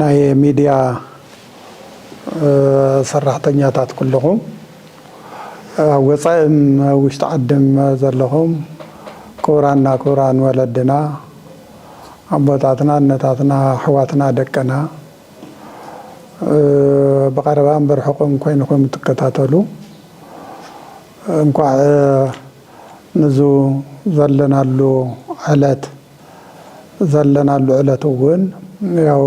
ናይ ሚድያ ሰራሕተኛታት ኩሉኹም ኣብ ወፃኢን ኣብ ውሽጢ ዓድን ዘለኹም ክቡራና ክቡራን ወለድና ኣቦታትና እነታትና ኣሕዋትና ደቅና ብቐረባን ብርሑቕን ኮይንኹም እትከታተሉ እንኳዕ ንዙ ዘለናሉ ዕለት ዘለናሉ ዕለት እውን ያው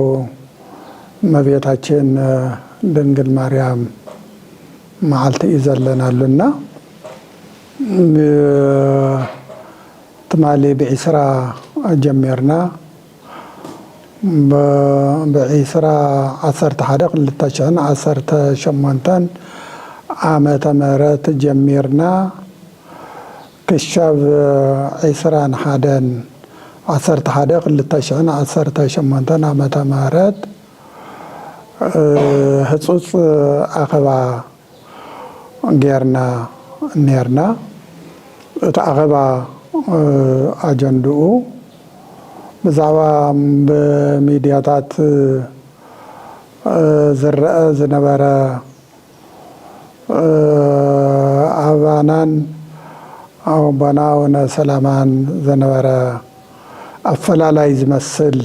እመቤታችን ድንግል ማርያም መዓልቲ እዩ ዘለናሉ እና ትማሊ ብዒስራ ጀሚርና ብዒስራ ዓሰርተ ሓደ ክልተ ሽሕን ዓሰርተ ሸሞንተን ዓመተ ምህረት ጀሚርና ክሻብ ዕስራን ሓደን ዓሰርተ ሓደ ክልተ ሽሕን ዓሰርተ ሸሞንተን ዓመተ ምህረት ህጹጽ ኣኸባ ገርና ነርና እቲ ኣኸባ ኣጀንድኡ ብዛዕባ ብሚድያታት ዝረኣ ዝነበረ ኣባናን ኣቦና ኣቡነ ሰላማን ዝነበረ ኣፈላላይ ዝመስል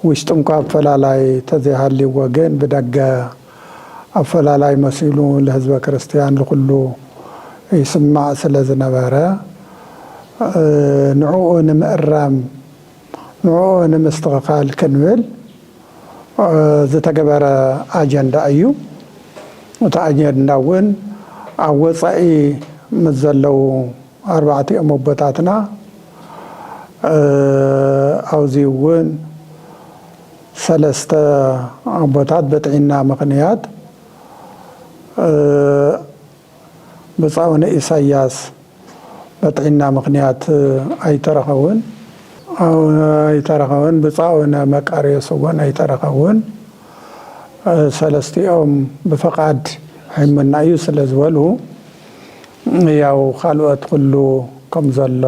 ውሽጢ እኳ ኣፈላላይ ተዘይሃልይዎ ግን ብደገ ኣፈላላይ መሲሉ ልህዝበ ክርስትያን ልኹሉ ይስማዕ ስለዝነበረ ንዑኡ ንምእራም ንዕኡ ንምስትኽኻል ክንብል ዝተገበረ ኣጀንዳ እዩ። እቲ ኣጀንዳ እውን ኣብ ወፃኢ ምስ ዘለዉ ኣርባዕቲኦም ኣቦታትና ኣብዚ እውን ሰለስተ ኣቦታት ብጥዒና ምኽንያት ብጻውነ ኢሳያስ በጥዒና ምኽንያት ኣይተረኸቡን። ኣይተረኸቡን ብጻውነ መቃርዮስ እውን ኣይተረኸቡን። ሰለስቲኦም ብፈቓድ ሒሙና እዩ ስለ ዝበሉ ያው ካልኦት ኩሉ ከም ዘሎ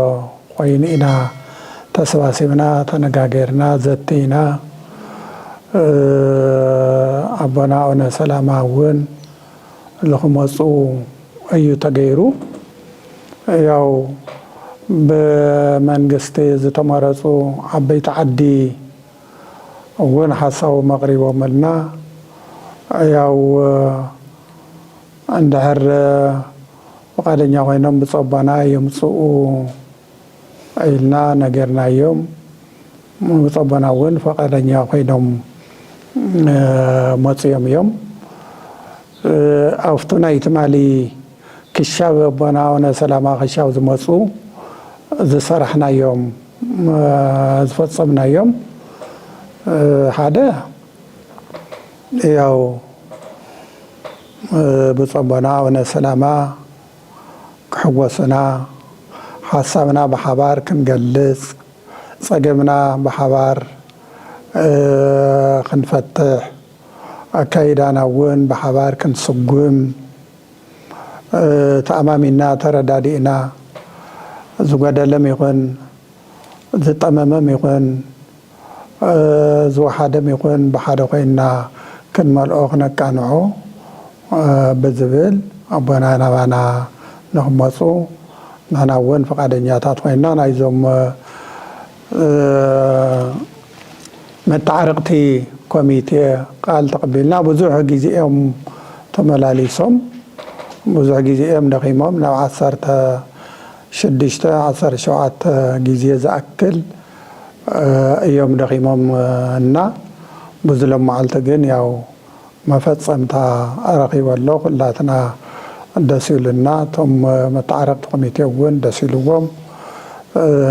ኮይኑ ኢና ተሰባሲብና ተነጋገርና ዘቲና ኣቦና ኣውነ ሰላማ እውን ልክመፁ እዩ ተገይሩ። ያው ብመንግስቲ ዝተመረፁ ዓበይቲ ዓዲ እውን ሓሳቦም ኣቕሪቦምልና ያው እንድሕር ፍቓደኛ ኮይኖም ብፆባና የምፅኡ ኢልና ነጊርናዮም። ብፁዕ ኣቦና እውን ፈቓደኛ ኮይኖም መፂኦም እዮም። ኣብቱ ናይ ትማሊ ክሻብ ኣቦና ኣቡነ ሰላማ ክሻብ ዝመፁ ዝሰራሕናዮም ዝፈፀምናዮም ሓደ ያው ብፁዕ ኣቦና ኣቡነ ሰላማ ክሕጎሱና፣ ሓሳብና ብሓባር ክንገልጽ፣ ጸገምና ብሓባር ክንፈትሕ፣ ኣካይዳና እውን ብሓባር ክንስጉም፣ ተኣማሚንና ተረዳዲእና፣ ዝጎደለም ይኹን ዝጠመመም ይኹን፣ ዝወሓደም ይኹን ብሓደ ኮይንና ክንመልኦ ክነቃንዖ ብዝብል ኣቦና ናባና ንክመፁ ንሕና እውን ፍቓደኛታት ኮይንና ናይዞም መተዓርቕቲ ኮሚቴ ቃል ተቐቢልና ብዙሕ ግዜ እዮም ተመላሊሶም ብዙሕ ግዜ እዮም ደኺሞም ናብ ዓሰርተ ሽዱሽተ ዓሰርተ ሸውዓተ ግዜ ዝኣክል እዮም ደኺሞም እና ብዙ ሎማዓልቲ ግን ያው መፈፀምታ ረኺቡ ኣሎ ኩላትና ደስ ኢሉና እቶም መታዓረቅቲ ኮሚቴ እውን ደስ ኢልዎም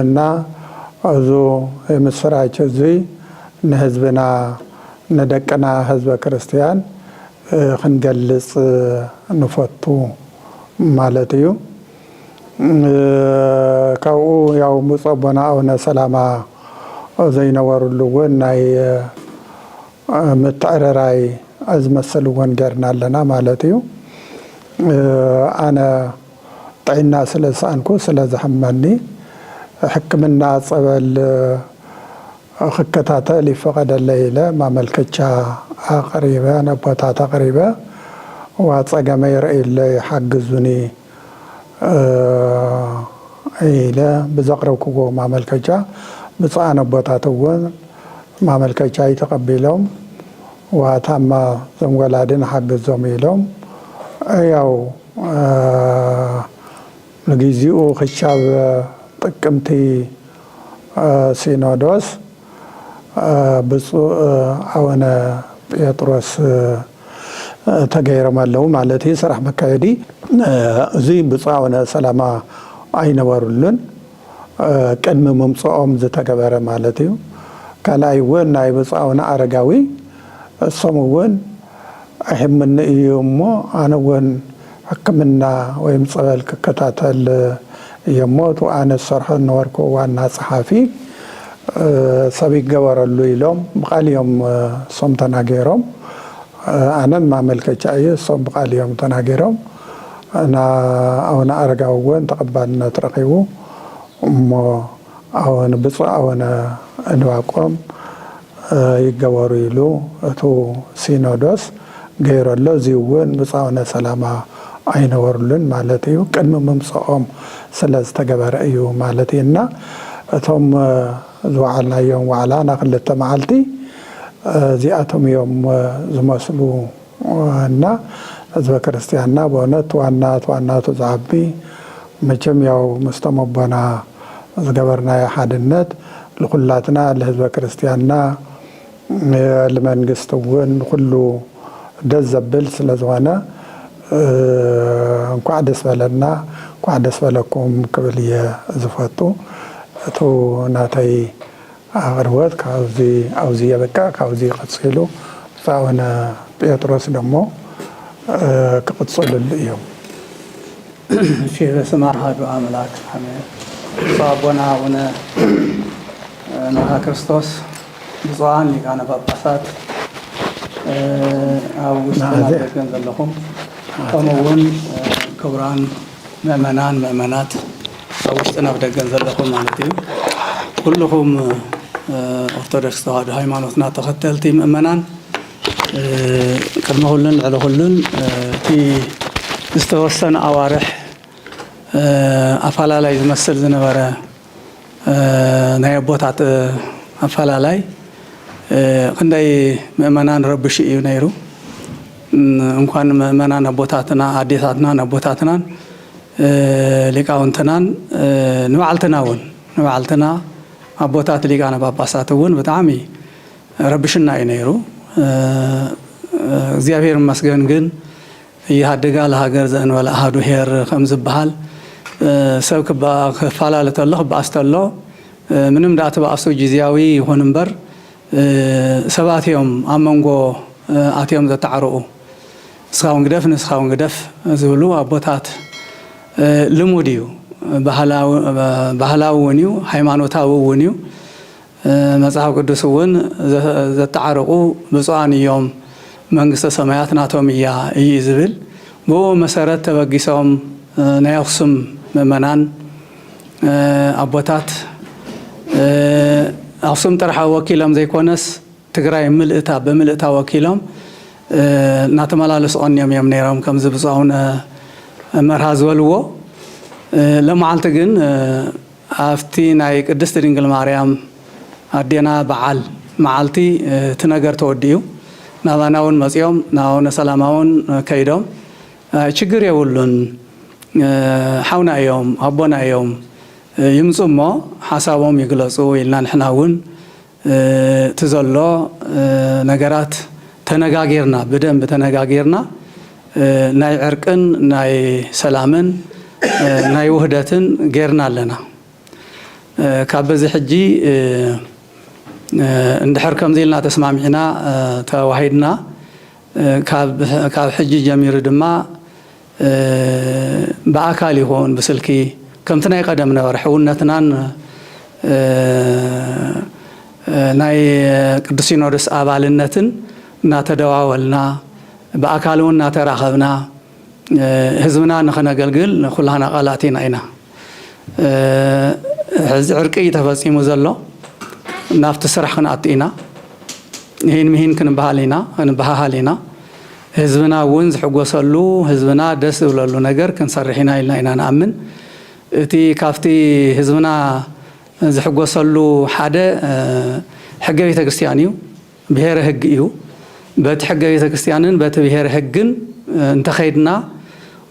እና እዙ የምስራች እዙይ ንህዝብና ንደቅና ህዝበ ክርስትያን ክንገልፅ ንፈቱ ማለት እዩ። ካብኡ ያው ብፁዕ ኣቦና ኣቡነ ሰላማ ዘይነበርሉ እውን ናይ ምትዕርራይ ዝመስል እውን ጌርና ኣለና ማለት እዩ ኣነ ጥዒና ስለ ዝሰኣንኩ ስለ ዝሕመኒ ሕክምና ፀበል ክከታተል ይፈቐደለይ ኢለ ማመልከቻ ኣቕሪበ ነቦታት ኣቕሪበ እዋ ፀገመይ ርእዩለይ ሓግዙኒ ኢለ ብዘቕረብክዎ ማመልከቻ ብፁዓን ኣቦታት እውን ማመልከቻይ ተቐቢሎም ዋታማ እዞም ወላዲ ንሓግዞም ኢሎም ያው ንግዚኡ ክሻብ ጥቅምቲ ሲኖዶስ ብፁእ ኣወነ ጴጥሮስ ተገይሮም ኣለዉ ማለት እዩ ስራሕ መካየዲ እዙይ ብፁእ ኣወነ ሰላማ ኣይነበሩሉን ቅድሚ ምምፅኦም ዝተገበረ ማለት እዩ ካልኣይ እውን ናይ ብፁእ ኣወነ ኣረጋዊ እሶም እውን ኣይሕመኒ እዩ እሞ ኣነ እውን ሕክምና ወይም ፀበል ክከታተል እየ እሞ እቲ ኣነ ዝሰርሖ ዝነበርኩ ዋና ፀሓፊ ሰብ ይገበረሉ ኢሎም ብቃል እዮም እሶም ተናገሮም ኣነን ማመልከቻ እየ እሶም ብቃል እዮም ተናገሮም እና ኣውነ ኣረጋዊ እውን ተቀባልነት ረኪቡ እሞ ኣወን ብፁዕ ኣወነ እንባቆም ይገበሩ ኢሉ እቱ ሲኖዶስ ገይሩ ኣሎ እዙይ እውን ብፁዕ ኣወነ ሰላማ ኣይነበሩሉን ማለት እዩ ቅድሚ ምምፀኦም ስለ ዝተገበረ እዩ ማለት እዩ እና እቶም ዝወዓልናዮም ዋዕላ ናክልተ መዓልቲ እዚኣቶም እዮም ዝመስሉ ዋና ህዝበ ክርስትያንና በእውነት ዋና ትዋናቱ ዝዓቢ መቸም ያው ምስቶም ኣቦና ዝገበርናዮ ሓድነት ልኩላትና ልህዝበ ክርስትያንና ልመንግስቲ እውን ኩሉ ደስ ዘብል ስለ ዝኾነ እንኳዕ ደስ በለና እንኳዕ ደስ በለኩም ክብል እየ ዝፈቱ እቱ ናተይ ኣቅርቦት ካብዚ ኣብዚ የብቅዕ ካብዚ ቀጺሉ ብጹእ ኣቡነ ጴጥሮስ ደሞ ክቅጽልሉ እዮም። እሺ በስመ ኣሃዱ ኣምላክ ኣሜን ብፁዕ ኣቦና ኣቡነ ንዋከርስቶስ ብፁዓን ሊቃነ ጳጳሳት ኣብ ውሽጥን ኣብ ደገን ዘለኹም ከምኡ እውን ክቡራን ምእመናን ምእመናት ኣብ ውሽጥን ኣብ ደገን ዘለኹም ማለት እዩ ኩሉኹም ኦርቶዶክስ ተዋህዶ ሃይማኖትና ተኸተልቲ ምእመናን ቅድሚ ኩሉን ልዕሊ ኩሉን እቲ ዝተወሰነ ኣዋርሕ ኣፋላላይ ዝመስል ዝነበረ ናይ ኣቦታት ኣፈላላይ ክንደይ ምእመናን ረብሹ እዩ ነይሩ። እንኳን ምእመናን ኣቦታትና ኣዴታትናን ኣቦታትናን ሊቃውንትናን ንባዕልትና እውን ንባዕልትና ኣቦታት ሊቃነ ጳጳሳት እውን ብጣዕሚ ረብሽና እዩ ነይሩ። እግዚኣብሔር ይመስገን ግን ኢህኣዴጋ ለሃገር ዘእንበለ ኣሃዱ ሄር ከም ዝበሃል ሰብ ክበኣ ክፋላለ ተሎ ክበኣስ ተሎ ምንም ደኣ ትበኣሱ ጂዝያዊ ይኹን እምበር ሰባት እዮም ኣብ መንጎ ኣትዮም ዘታዕርቁ ንስኻ ውን ግደፍ ንስኻ ውን ግደፍ ዝብሉ ኣቦታት ልሙድ እዩ ባህላዊ ውን እዩ ሃይማኖታዊ ውን እዩ መጽሓፍ ቅዱስ እውን ዘተዓርቑ ብፁዓን እዮም መንግስተ ሰማያት ናቶም እያ እዩ ዝብል። ብእኡ መሰረት ተበጊሶም ናይ ኣኽሱም ምእመናን ኣቦታት ኣኽሱም ጥራሕ ወኪሎም ዘይኮነስ ትግራይ ምልእታ ብምልእታ ወኪሎም እናተመላለሱ ቐንዮም እዮም ነይሮም ከምዚ ብፁዕ ኣቡነ መርሃ ዝበልዎ። ሎማዓልቲ ግን ኣብቲ ናይ ቅድስት ድንግል ማርያም ኣዴና በዓል መዓልቲ እቲ ነገር ተወዲኡ ናባና ውን መጺኦም ናብ ኣቡነ ሰላማ ውን ከይዶም ችግር የብሉን ሓውና እዮም ኣቦና እዮም ይምጹ እሞ ሓሳቦም ይግለጹ ኢልና ንሕና ውን እቲ ዘሎ ነገራት ተነጋጊርና ብደንቢ ተነጋጊርና ናይ ዕርቅን ናይ ሰላምን ናይ ውህደትን ጌርና ኣለና ካብ በዚ ሕጂ እንድሕር ከምዚ ኢልና ተስማሚዕና ተዋሂድና ካብ ሕጂ ጀሚሩ ድማ ብኣካል ይኹን ብስልኪ ከምቲ ናይ ቐደም ነበረ ሕውነትናን ናይ ቅዱስ ሲኖዶስ ኣባልነትን እናተደዋወልና ብኣካል እውን እናተራኸብና ህዝብና ንኸነገልግል ኩላህና ቓላቲና ኢና። ሕዚ ዕርቂ እዩ ተፈፂሙ ዘሎ ናብቲ ስራሕ ክንኣቱ ኢና ይህን ምሂን ክንበሃል ኢና ክንበሃሃል ኢና ህዝብና እውን ዝሕጎሰሉ ህዝብና ደስ ዝብለሉ ነገር ክንሰርሕ ኢና ኢልና ኢና ንኣምን እቲ ካብቲ ህዝብና ዝሕጎሰሉ ሓደ ሕገ ቤተ ክርስቲያን እዩ ብሄረ ህግ እዩ። በቲ ሕገ ቤተ ክርስቲያንን በቲ ብሄረ ህግን እንተኸይድና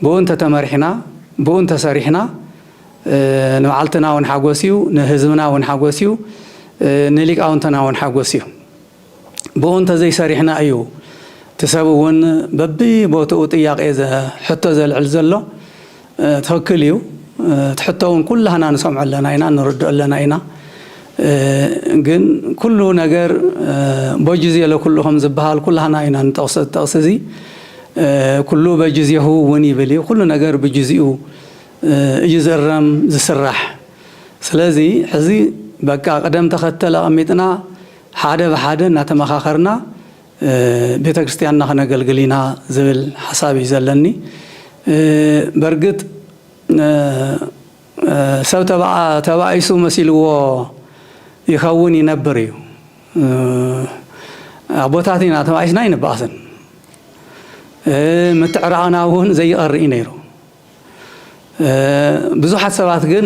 ብኡ እንተተመሪሕና ብኡ እንተሰሪሕና ንባዕልትና እውን ሓጎስ እዩ፣ ንህዝብና እውን ሓጎስ እዩ፣ ንሊቃውንትና እውን ሓጎስ እዩ። ብኡ እንተዘይሰሪሕና እዩ እቲ ሰብ እውን በቢቦትኡ ጥያቄ ሕቶ ዘልዕል ዘሎ። ትክክል እዩ እቲ ሕቶ ውን ኩላህና ንሰምዖ ኣለና ኢና ንርድኦ ኣለና ኢና ግን ኩሉ ነገር ቦጅዜ ለኩሉ ከም ዝብሃል ኩላህና ኢና ንጠቅሶ እዚ ጠቅሲ እዚ ኩሉ በጅዜሁ ውን ይብል እዩ ኩሉ ነገር ብጅዝኡ እዩ ዝእረም ዝስራሕ ስለዚ ሕዚ በቃ ቅደም ተከተል ኣቀሚጥና ሓደ ብሓደ እናተመካከርና ቤተክርስቲያንና ክነገልግል ኢና ዝብል ሓሳብ እዩ ዘለኒ በርግጥ ሰብ ተባኢሱ መሲልዎ ይኸውን ይነብር እዩ ኣቦታት ኢና ተባኢስና ኣይንበኣስን ምትዕራቕና እውን ዘይቐር እዩ ነይሩ ብዙሓት ሰባት ግን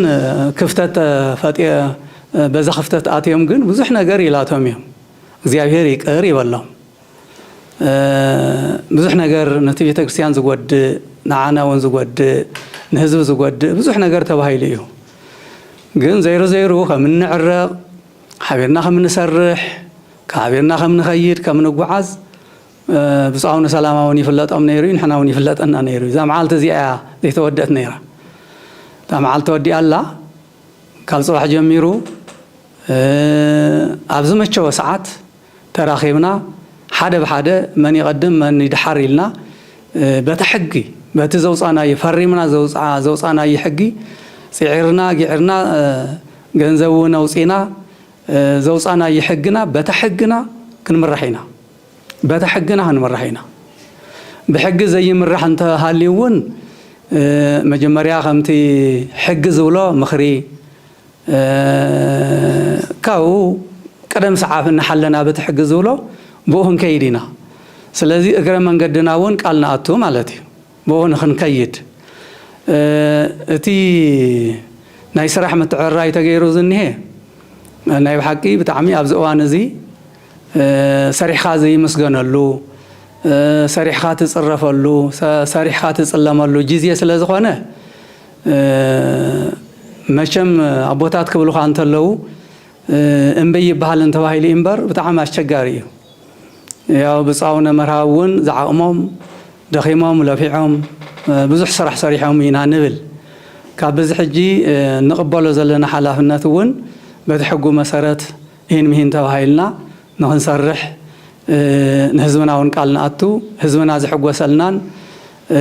ክፍተት ፈጢ በዛ ክፍተት ኣትዮም ግን ብዙሕ ነገር ይላቶም እዮም እግዚኣብሔር ይቅር ይበሎም ብዙሕ ነገር ነቲ ቤተክርስቲያን ዝጎድእ ንዓና እውን ዝጎድእ ንህዝቢ ዝጎድእ ብዙሕ ነገር ተባሂሉ እዩ ግን ዘይሩ ዘይሩ ከም እንዕረቕ ሓቢርና ከም እንሰርሕ ሓቢርና ከም ንኸይድ ከም ንጓዓዝ ብፁዕ ኣቡነ ሰላማ እውን ይፍለጦም ነይሩ እዩ ንሕና እውን ይፍለጠና ነይሩ እዩ እዛ መዓልቲ እዚኣ እያ ዘይተወደት ነይራ እታ መዓልቲ ተወዲኣ ኣላ ካብ ፅባሕ ጀሚሩ ኣብ ዝመቸወ ሰዓት ተራኺብና ሓደ ብሓደ መን ይቐድም መን ይድሓር ኢልና በታ ሕጊ በቲ ዘውፃእናዮ ፈሪምና ዘውፃእናዮ ሕጊ ፅዒርና ጊዕርና ገንዘብ እውን ኣውፂእና ዘውፃእናዮ ሕግና በታ ሕግና ክንምራሕ ኢና በታ ሕግና ክንምራሕ ኢና ብሕጊ ዘይምራሕ እንተሃልዩ እውን መጀመርያ ከምቲ ሕጊ ዝብሎ ምኽሪ ካብኡ ቀደም ሰዓብ እናሓለና በቲ ሕጊ ዝብሎ ብኡ ክንከይድ ኢና። ስለዚ እግረ መንገድና እውን ቃል ንኣቱ ማለት እዩ። ብኡ ንክንከይድ እቲ ናይ ስራሕ ምትዕርራይ ተገይሩ ዝኒሀ ናይ ብሓቂ ብጣዕሚ ኣብዚ እዋን እዚ ሰሪሕኻ ዘይምስገነሉ፣ ሰሪሕኻ ትፅረፈሉ፣ ሰሪሕኻ ትፅለመሉ ጊዜ ስለዝኾነ መቸም ኣቦታት ክብሉኻ እንተለዉ እምብይ ይበሃልን ተባሂሉ እዩ እምበር ብጣዕሚ ኣስቸጋሪ እዩ። ያው ብፁዕ ኣቡነ መርሃዊ እውን ዝዓቕሞም ደኺሞም ለፊዖም ብዙሕ ስራሕ ሰሪሖም ኢና ንብል። ካብ ብዚ ሕጂ እንቕበሎ ዘለና ሓላፍነት እውን በቲ ሕጉ መሰረት ኢሂን ምሂን ተባሂልና ንኽንሰርሕ ንህዝብና እውን ቃል ንኣቱ ህዝብና ዝሕጎሰልናን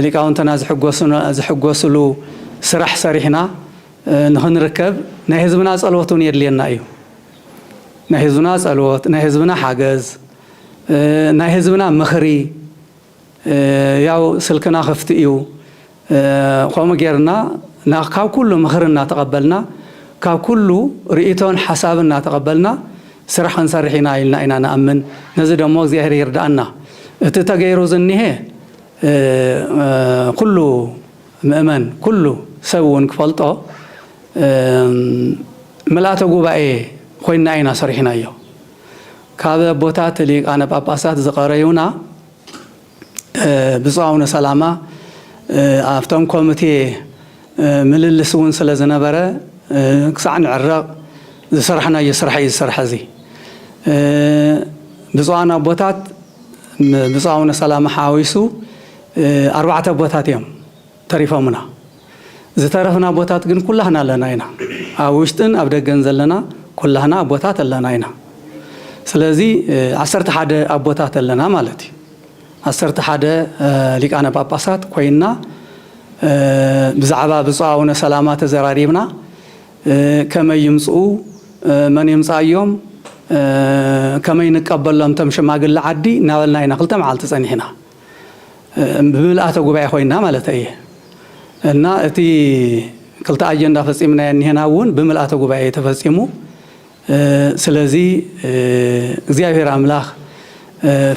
ሊቃውንትና ዝሕጎስሉ ስራሕ ሰሪሕና ንኽንርከብ ናይ ህዝብና ጸሎት እውን የድልየና እዩ። ናይ ህዝብና ጸሎት፣ ናይ ህዝብና ሓገዝ፣ ናይ ህዝብና ምኽሪ ያው ስልክና ክፍቲ እዩ። ከምኡ ጌርና ካብ ኩሉ ምኽሪ እናተቐበልና ካብ ኩሉ ርእይቶን ሓሳብን እናተቐበልና ስራሕ ክንሰርሕ ኢና ኢልና ኢና ንኣምን። ነዚ ደሞ እግዚኣብሔር ይርድኣና። እቲ ተገይሩ ዝኒሀ፣ ኩሉ ምእመን ኩሉ ሰብ እውን ክፈልጦ ምልኣተ ጉባኤ ኮይንና ኢና ሰሪሕናዮ። ካብ ኣቦታት ሊቃነ ጳጳሳት ዝቐረዩና ብፁዕ ኣቡነ ሰላማ ኣብቶም ኮሚቴ ምልልስ እውን ስለ ዝነበረ ክሳዕ ንዕረቕ ዝሰራሕናዮ ስራሕ እዩ ዝስራሕ እዚ ብፁዓን ኣቦታት ብፁዕ ኣቡነ ሰላማ ሓዋዊሱ ኣርባዕተ ኣቦታት እዮም ተሪፎምና ዝተረፍና ኣቦታት ግን ኩላህና ኣለና ኢና ኣብ ውሽጥን ኣብ ደገን ዘለና ኩላህና ኣቦታት ኣለና ኢና ስለዚ ዓሰርተ ሓደ ኣቦታት ኣለና ማለት እዩ ዓሰርተ ሓደ ሊቃነ ጳጳሳት ኮይንና ብዛዕባ ብፁዕ ኣቡነ ሰላማ ተዘራሪብና፣ ከመይ ይምጽኡ፣ መን የምጽኣዮም፣ ከመይ ንቀበሎም እቶም ሽማግለ ዓዲ እናበልና ኢና ክልተ መዓልቲ ጸኒሕና፣ ብምልኣተ ጉባኤ ኮይንና ማለተይ እየ እና እቲ ክልተ ኣጀንዳ ፈጺምናዮ እኒሀና እውን ብምልኣተ ጉባኤ እዩ ተፈጺሙ። ስለዚ እግዚኣብሔር ኣምላክ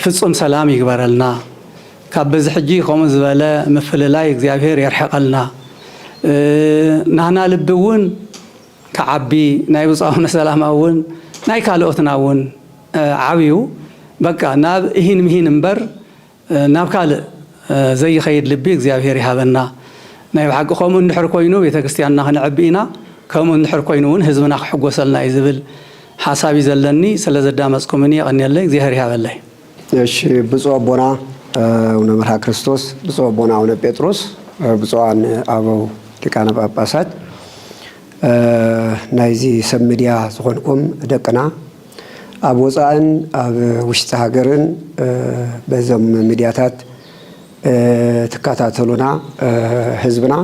ፍፁም ሰላም ይግበረልና ካብ በዚ ሕጂ ከምኡ ዝበለ ምፍልላይ እግዚኣብሔር የርሕቀልና ናህና ልቢ እውን ክዓቢ ናይ ብፁዕ ኣቡነ ሰላማ እውን ናይ ካልኦትና እውን ዓብዩ በቃ ናብ እሂን ምሂን እምበር ናብ ካልእ ዘይኸይድ ልቢ እግዚኣብሔር ይሃበና። ናይ ብሓቂ ከምኡ እንድሕር ኮይኑ ቤተክርስቲያንና ክነዕቢ ኢና ከምኡ እንድሕር ኮይኑ እውን ህዝብና ክሕጎሰልና እዩ ዝብል ሓሳብ እዩ ዘለኒ ስለ ዘዳመፅኩምኒ የቐንየለይ እግዚኣብሔር ይሃበለይ። እሺ ብፁዕ ኣቦና ኣቡነ መርሃ ክርስቶስ፣ ብፁዕ ኣቦና ኣቡነ ጴጥሮስ፣ ብፁዓን ኣበው ሊቃነ ጳጳሳት፣ ናይዚ ሰብ ሚድያ ዝኾንኩም ደቅና፣ ኣብ ወፃእን ኣብ ውሽጢ ሃገርን በዞም ሚድያታት ትከታተሉና ህዝብና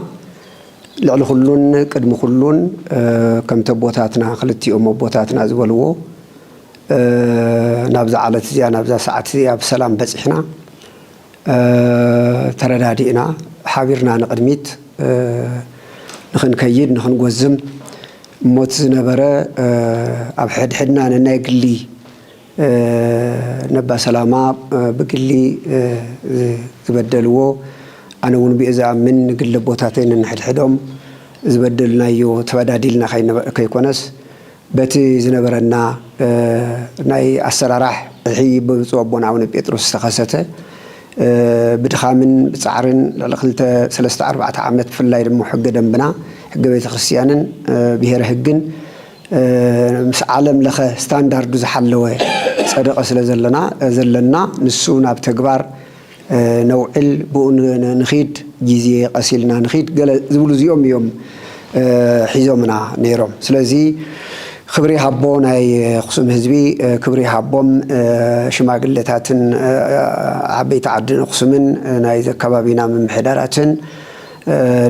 ልዕሊ ኩሉን ቅድሚ ኩሉን ከምቲ ኣቦታትና ክልቲኦም ኣቦታትና ዝበልዎ ናብዛ ዓለት እዚኣ ናብዛ ሰዓት እዚኣ ብሰላም በፂሕና ተረዳዲእና ሓቢርና ንቕድሚት ንኽንከይድ ንኽንጎዝም እሞ እቲ ዝነበረ ኣብ ሕድሕድና ነናይ ግሊ ነባ ሰላማ ብግሊ ዝበደልዎ ኣነ እውን ብኡ ዝኣምን ንግሊ ኣቦታተይ ነንሕድሕዶም ዝበደልናዮ ተበዳዲልና ከይኮነስ በቲ ዝነበረና ናይ ኣሰራራሕ ዕሒ ብብፁዕ ኣቦና ኣቡነ ጴጥሮስ ዝተኸሰተ ብድኻምን ብጻዕርን ልዕሊ ክልተ ሰለስተ ኣርባዕተ ዓመት ብፍላይ ድሞ ሕገ ደንብና ሕገ ቤተ ክርስቲያንን ብሔረ ህግን ምስ ዓለም ለኸ ስታንዳርዱ ዝሓለወ ጸደቐ ስለ ዘለና ዘለና ንሱ ናብ ተግባር ነውዕል ብኡ ንኺድ ግዜ ቀስ ኢልና ንኺድ ገለ ዝብሉ እዚኦም እዮም ሒዞምና ነይሮም ስለዚ ክብሪ ይሃቦ ናይ ኣኽሱም ህዝቢ ክብሪ ይሃቦም ሽማግለታትን ዓበይቲ ዓዲ ኣኽሱምን ናይዚ ኣከባቢና ምምሕዳራትን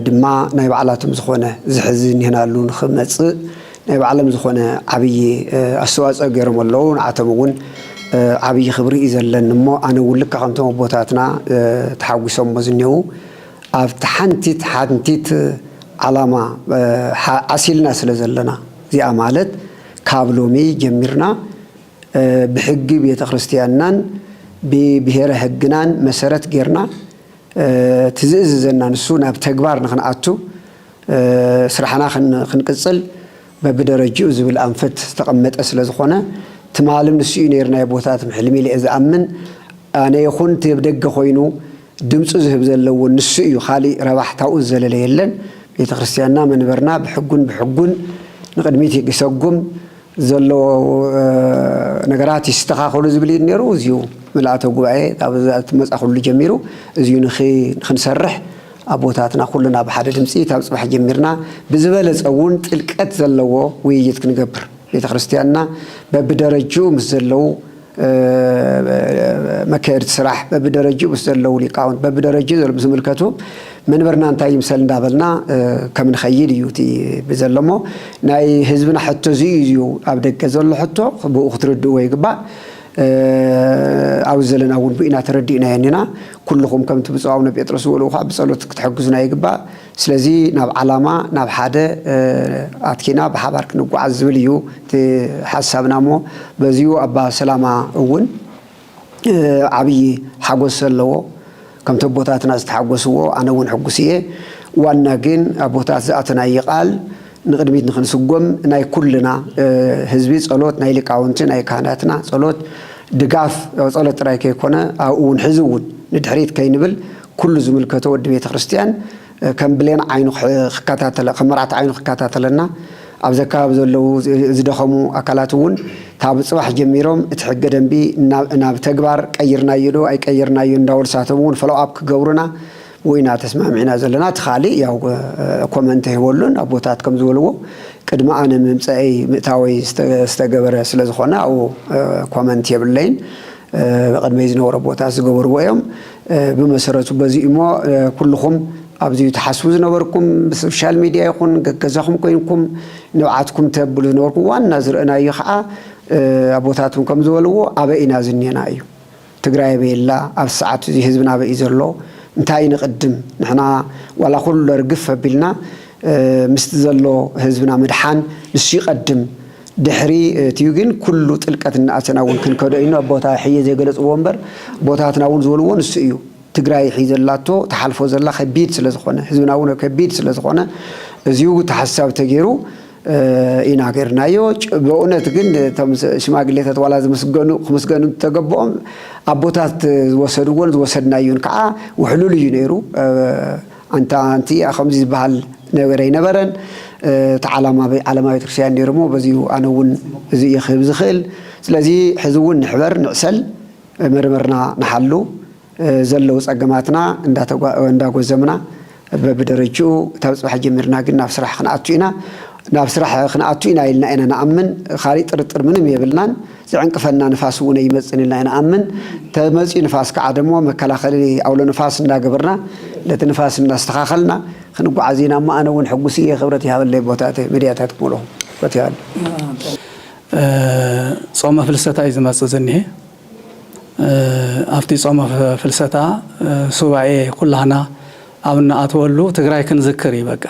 ድማ ናይ ባዕላቶም ዝኾነ ዝሕዚ ኒህናሉ ንኽመጽእ ናይ ባዕሎም ዝኾነ ዓብዪ ኣስተዋፅኦ ገይሮም ኣለዉ። ንዓቶም እውን ዓብዪ ክብሪ እዩ ዘለኒ እሞ ኣነ እውን ልክዕ ከምቶም ኣቦታትና ተሓጒሶሞ ዝኔዉ ኣብቲ ሓንቲት ሓንቲት ዓላማ ዓሲልና ስለ ዘለና እዚኣ ማለት ካብ ሎሚ ጀሚርና ብሕጊ ቤተ ክርስቲያንናን ብብሄረ ሕግናን መሰረት ገይርና እቲ ዝእዝዘና ንሱ ናብ ተግባር ንክንኣቱ ስራሕና ክንቅፅል በብደረጅኡ ዝብል ኣንፈት ዝተቐመጠ ስለዝኾነ ትማልም ንሱ'ዩ ነይሩ ናይ ኣቦታትም ሕልሚ ኢለ'የ ዝኣምን። ኣነ ይኹን እቲ ኣብ ደገ ኮይኑ ድምፁ ዝህብ ዘሎ እውን ንሱ እዩ ካሊእ ረባሕ ታብኡ ዝዘለለ የለን። ቤተክርስትያንና መንበርና ብሕጉን ብሕጉን ንቕድሚት ይሰጉም። ዘለዎ ነገራት ይስተኻኸሉ ዝብል ኢዩ ነይሩ። እዚዩ ምልኣተ ጉባኤ ካብ መጻኹሉ ጀሚሩ እዚዩ ንኽንሰርሕ ኣቦታትና ኩልና ብሓደ ድምጺ ካብ ጽባሕ ጀሚርና ብዝበለጸ እውን ጥልቀት ዘለዎ ውይይት ክንገብር ቤተክርስትያንና በብደረጅኡ ምስ ዘለዉ መካየድቲ ስራሕ በብደረጅኡ ምስ ዘለዉ ሊቃውንት በብደረጅኡ ዘለዉ ዝምልከቱ መንበርና እንታይ ይምሰል እንዳበልና ከም ንኸይድ እዩ እቲ ብዘሎ እሞ ናይ ህዝብና ሕቶ እዚ እዩ ኣብ ደገ ዘሎ ሕቶ ብኡ ክትርድእዎ ይግባእ ኣብ ዘለና እውን ብኢና ተረዲእናዮ እኒና ኩልኹም ከምቲ ብፁዕ ኣቡነ ጴጥሮስ ዝበልዎ ከዓ ብጸሎት ክትሕግዙና ይግባእ ስለዚ ናብ ዓላማ ናብ ሓደ ኣትኪና ብሓባር ክንጓዓዝ ዝብል እዩ እቲ ሓሳብና እሞ በዚኡ ኣባ ሰላማ እውን ዓብዪ ሓጎስ ዘለዎ ከምቲ ኣቦታትና ዝተሓጎስዎ ኣነ እውን ሕጉስ እየ ዋና ግን ኣቦታት ዝኣተናዪ ቃል ንቕድሚት ንኽንስጎም ናይ ኩልና ህዝቢ ፀሎት ናይ ሊቃውንቲ ናይ ካህናትና ፀሎት ድጋፍ ፀሎት ጥራይ ከይኮነ ኣብኡ እውን ሕዚ እውን ንድሕሪት ከይንብል ኩሉ ዝምልከቶ ወዲ ቤተ ክርስቲያን ከም ብሌን ዓይኑ ክከታተለ ከም መርዓት ዓይኑ ክከታተለና ኣብዚ ኣከባቢ ዘለዉ ዝደኸሙ ኣካላት እውን ካብ ፅባሕ ጀሚሮም እቲ ሕገ ደንቢ ናብ ተግባር ቀይርናዮ ዶ ኣይቀየርናዮን እንዳበሉ ንሳቶም እውን ፎሎው ኣፕ ክገብሩና ዊና ተስማዕሚዕና ዘለና እቲ ካሊእ ያው ኮመንት ኣይህበሉን ኣቦታት ከም ዝበልዎ ቅድሚ ኣነ ምምፀእይ ምእታወይ ዝተገበረ ስለ ዝኾነ ኣብኡ ኮመንት የብለይን ቅድመይ ዝነበሮ ኣቦታት ዝገበርዎ እዮም ብመሰረቱ በዚ እሞ ኩልኹም ኣብዚ ትሓስቡ ዝነበርኩም ብሶሻል ሚድያ ይኹን ገገዛኹም ኮይንኩም ንብዓትኩም ተብሉ ዝነበርኩም ዋና ዝረእናዩ ከዓ ኣቦታትም ከም ዝበልዎ ኣበይ ኢና ዝኔና እዩ ትግራይ ኣበይ ኣላ ኣብዚ ሰዓት እዚ ህዝብና ኣበይ እዩ ዘሎ እንታይ ንቅድም ንሕና ዋላ ኩሉ ርግፍ ኣቢልና ምስቲ ዘሎ ህዝብና ምድሓን ንሱ ይቀድም ድሕሪ እትዩ ግን ኩሉ ጥልቀት እናኣተና እውን ክንከዶ ኢና ኣቦታ ሕየ ዘይገለፅዎ እምበር ኣቦታትና እውን ዝበልዎ ንሱ እዩ ትግራይ ሕይ ዘላቶ ትሓልፎ ዘላ ከቢድ ስለዝኾነ ህዝብና እውን ከቢድ ስለዝኾነ እዚው ታሓሳቢ ተገይሩ ኢና ገርናዮ በእውነት ግን እቶም ሽማግሌታት ዋላ ዝምስገኑ ክምስገኑ ተገበኦም ኣቦታት ዝወሰድዎን ዝወሰድናዮን ከዓ ውሕሉል እዩ ነይሩ ኣንታ ኣንቲ ከምዚ ዝበሃል ነገር ኣይነበረን፣ እቲ ዓላማ ዓለማዊ ቤተክርስትያን ነይሩ እሞ በዚሁ ኣነ እውን እዚ እየ ክህብ ዝኽእል። ስለዚ ሕዚ እውን ንሕበር፣ ንዕሰል፣ መርምርና ንሓሉ፣ ዘለዉ ፀገማትና እንዳጎዘምና በብደረጅኡ ካብ ፅባሕ ጀሚርና ግን ናብ ስራሕ ክንኣቱ ኢና፣ ናብ ስራሕ ክንኣቱ ኢና ኢልና ኢና ንኣምን፣ ካሊእ ጥርጥር ምንም የብልናን። ዝዕንቅፈና ንፋስ እውን ኣይመፅን ኢልና ኢና ንኣምን። ተመፅዩ ንፋስ ከዓ ደሞ መከላኸሊ ኣውሎ ንፋስ እንዳገበርና ነቲ ንፋስ እንዳስተኻኸልና ክንጓዓዝ ኢና እሞ ኣነ እውን ሕጉስ እየ ክብረት ይሃበለይ ኣቦታተይ መዲያታት ሙሉኹም ክብረት ይሃበለይ። ጾመ ፍልሰታ እዩ ዝመጽእ ዝኒሀ ኣብቲ ጾመ ፍልሰታ ሱባኤ ኩላህና ኣብ እንኣትወሉ ትግራይ ክንዝክር እዩ በቃ።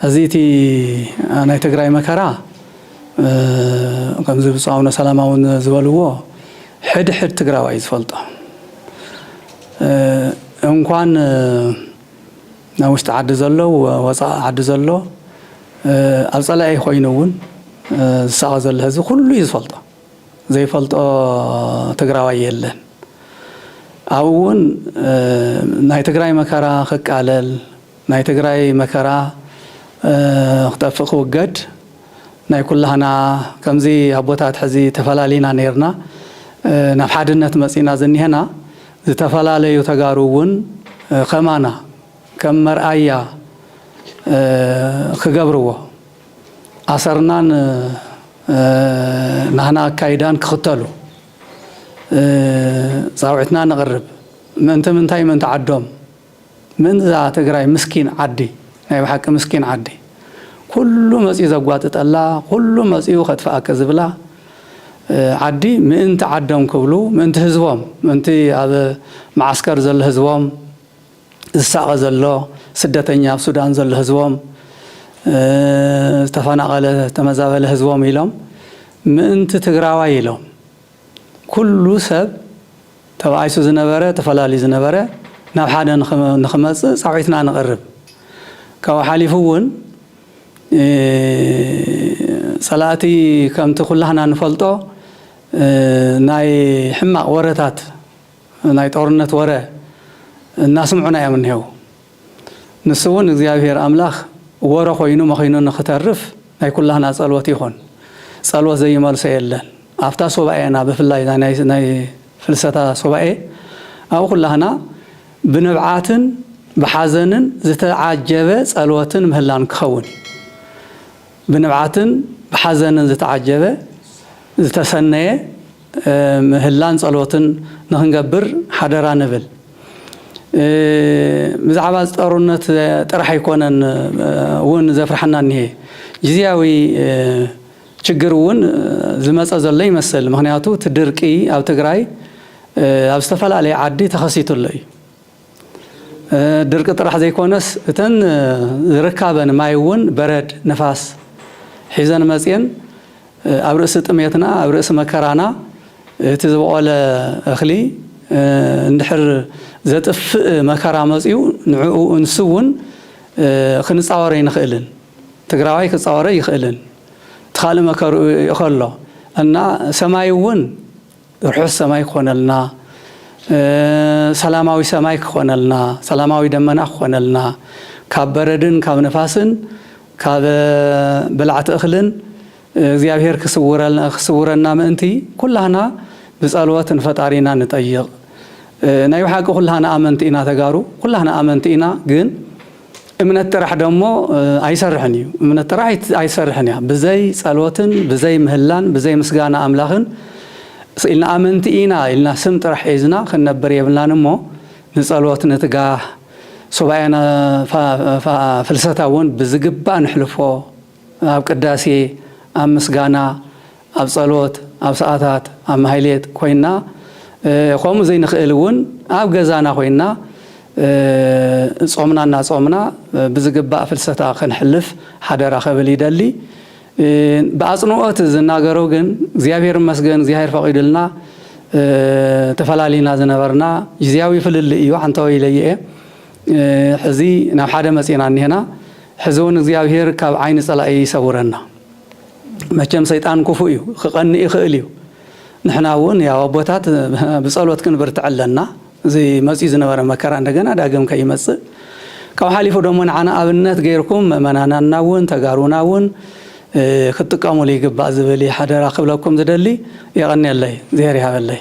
እዚ እቲ ናይ ትግራይ መከራ ከምዚ ብፁዕ ኣቡነ ሰላማ እውን ዝበልዎ ሕድ ሕድ ትግራዋይ ዝፈልጦ እንኳን ናብ ውሽጢ ዓዲ ዘሎ ወፃእ ዓዲ ዘሎ ኣብ ፀላኢ ኮይኑ እውን ዝሳቐ ዘሎ ህዝቢ ኩሉ እዩ ዝፈልጦ። ዘይፈልጦ ትግራዋይ የለን ኣብኡ እውን ናይ ትግራይ መከራ ክቃለል ናይ ትግራይ መከራ ክጠፍእ ክውገድ ናይ ኩላህና ከምዚ ኣቦታት ሕዚ ተፈላሊና ነይርና ናብ ሓድነት መፂና ዝኒሀና ዝተፈላለዩ ተጋሩ እውን ከማና ከም መርኣያ ክገብርዎ ኣሰርናን ናህና ኣካይዳን ክኽተሉ ጻውዒትና ነቕርብ። ምእንቲ ምንታይ ምእንቲ ዓዶም ምእንቲ እዛ ትግራይ ምስኪን ዓዲ ናይ ብሓቂ ምስኪን ዓዲ ኩሉ መጽዩ ዘጓጥጠላ ኩሉ መጽዩ ከጥፍኣኪ ዝብላ ዓዲ ምእንቲ ዓዶም ክብሉ ምእንቲ ህዝቦም ምእንቲ ኣብ መዓስከር ዘሎ ህዝቦም ዝሳቐ ዘሎ ስደተኛ ኣብ ሱዳን ዘሎ ህዝቦም ዝተፈናቐለ ዝተመዛበለ ህዝቦም ኢሎም ምእንቲ ትግራዋይ ኢሎም ኩሉ ሰብ ተባኢሱ ዝነበረ ተፈላልዩ ዝነበረ ናብ ሓደ ንክመፅእ ፃውዒትና ነቕርብ ካብኡ ሓሊፉ እውን ፀላእቲ ከምቲ ኩላህና ንፈልጦ ናይ ሕማቕ ወረታት ናይ ጦርነት ወረ እናስምዑና እዮም እኒሀው። ንሱ እውን እግዚኣብሄር ኣምላኽ ወረ ኮይኑ መኺኑ ንኽተርፍ ናይ ኩላህና ፀሎት ይኹን። ፀሎት ዘይመልሶ የለን። ኣብታ ሱባኤና ብፍላይ እዛ ናይ ፍልሰታ ሱባኤ ኣብ ኩላህና ብንብዓትን ብሓዘንን ዝተዓጀበ ፀሎትን ምህላን ክኸውን እዩ። ብንብዓትን ብሓዘንን ዝተዓጀበ ዝተሰነየ ምህላን ጸሎትን ንኽንገብር ሓደራ ንብል። ብዛዕባ ጸሩነት ጥራሕ ኣይኮነን እውን ዘፍርሓና እኒሀ። ጊዚያዊ ችግር እውን ዝመጸ ዘሎ ይመስል። ምኽንያቱ እቲ ድርቂ ኣብ ትግራይ ኣብ ዝተፈላለየ ዓዲ ተኸሲቱ ኣሎ እዩ። ድርቂ ጥራሕ ዘይኮነስ እተን ዝርካበን ማይ እውን በረድ ንፋስ ሒዘን መፅየን ኣብ ርእሲ ጥሜትና ኣብ ርእሲ መከራና እቲ ዝበቖለ እኽሊ እንድሕር ዘጥፍእ መከራ መፅዩ ንዕኡ ንሱ እውን ክንፃወሮ ኣይንኽእልን ትግራዋይ ክፃወሮ ኣይኽእልን እቲ ካልእ መከርኡ ይኸሎ እና ሰማይ እውን ርሑስ ሰማይ ክኾነልና ሰላማዊ ሰማይ ክኾነልና ሰላማዊ ደመና ክኾነልና ካብ በረድን ካብ ንፋስን ካብ በላዕቲ እኽልን እግዚኣብሔር ክስውረና ምእንቲ ኩላህና ብጸልወት ንፈጣሪና ንጠይቕ ናይ ብሓቂ ኩላህና ኣመንቲ ኢና ተጋሩ ኩላህና ኣመንቲ ኢና ግን እምነት ጥራሕ ደሞ ኣይሰርሕን እዩ እምነት ጥራሕ ኣይትሰርሕን እያ ብዘይ ጸሎትን ብዘይ ምህላን ብዘይ ምስጋና ኣምላኽን ኢልና ኣመንቲ ኢና ኢልና ስም ጥራሕ ሒዝና ክንነብር የብልናን እሞ ንጸሎት ንትጋህ ሱባኤና ፍልሰታ እውን ብዝግባእ ንሕልፎ ኣብ ቅዳሴ ኣብ ምስጋና ኣብ ጸሎት፣ ኣብ ሰዓታት፣ ኣብ ማህሌት ኮይንና ከምኡ ዘይንኽእል እውን ኣብ ገዛና ኮይንና ጾምና እናጾምና ብዝግባእ ፍልሰታ ክንሕልፍ ሓደራ ክብል ይደሊ። ብኣጽንኦት ዝናገሮ ግን እግዚኣብሔር ይመስገን እግዚኣብሔር ፈቂዱልና ተፈላሊና ዝነበርና ግዚያዊ ፍልልይ እዩ ዓንተወይ ኢለዮ እየ ሕዚ ናብ ሓደ መጺእና እኒሀና ሕዚ እውን እግዚኣብሔር ካብ ዓይኒ ጸላኢ ይሰውረና። መቸም ሰይጣን ኩፉእ እዩ ክቀንእ ይክእል እዩ ንሕና እውን ያው ኣቦታት ብጸሎት ክንብርትዕ ኣለና እዚ መጽዩ ዝነበረ መከራ እንደገና ዳግም ከይመጽእ ካብ ሓሊፉ ደሞ ንዓና ኣብነት ገይርኩም ምእመናናና እውን ተጋሩና እውን ክትጥቀሙሉ ይግባእ ዝብል እዩ ሓደራ ክብለኩም ዝደሊ የቀንየለይ እግዚኣብሔር ይሃበለይ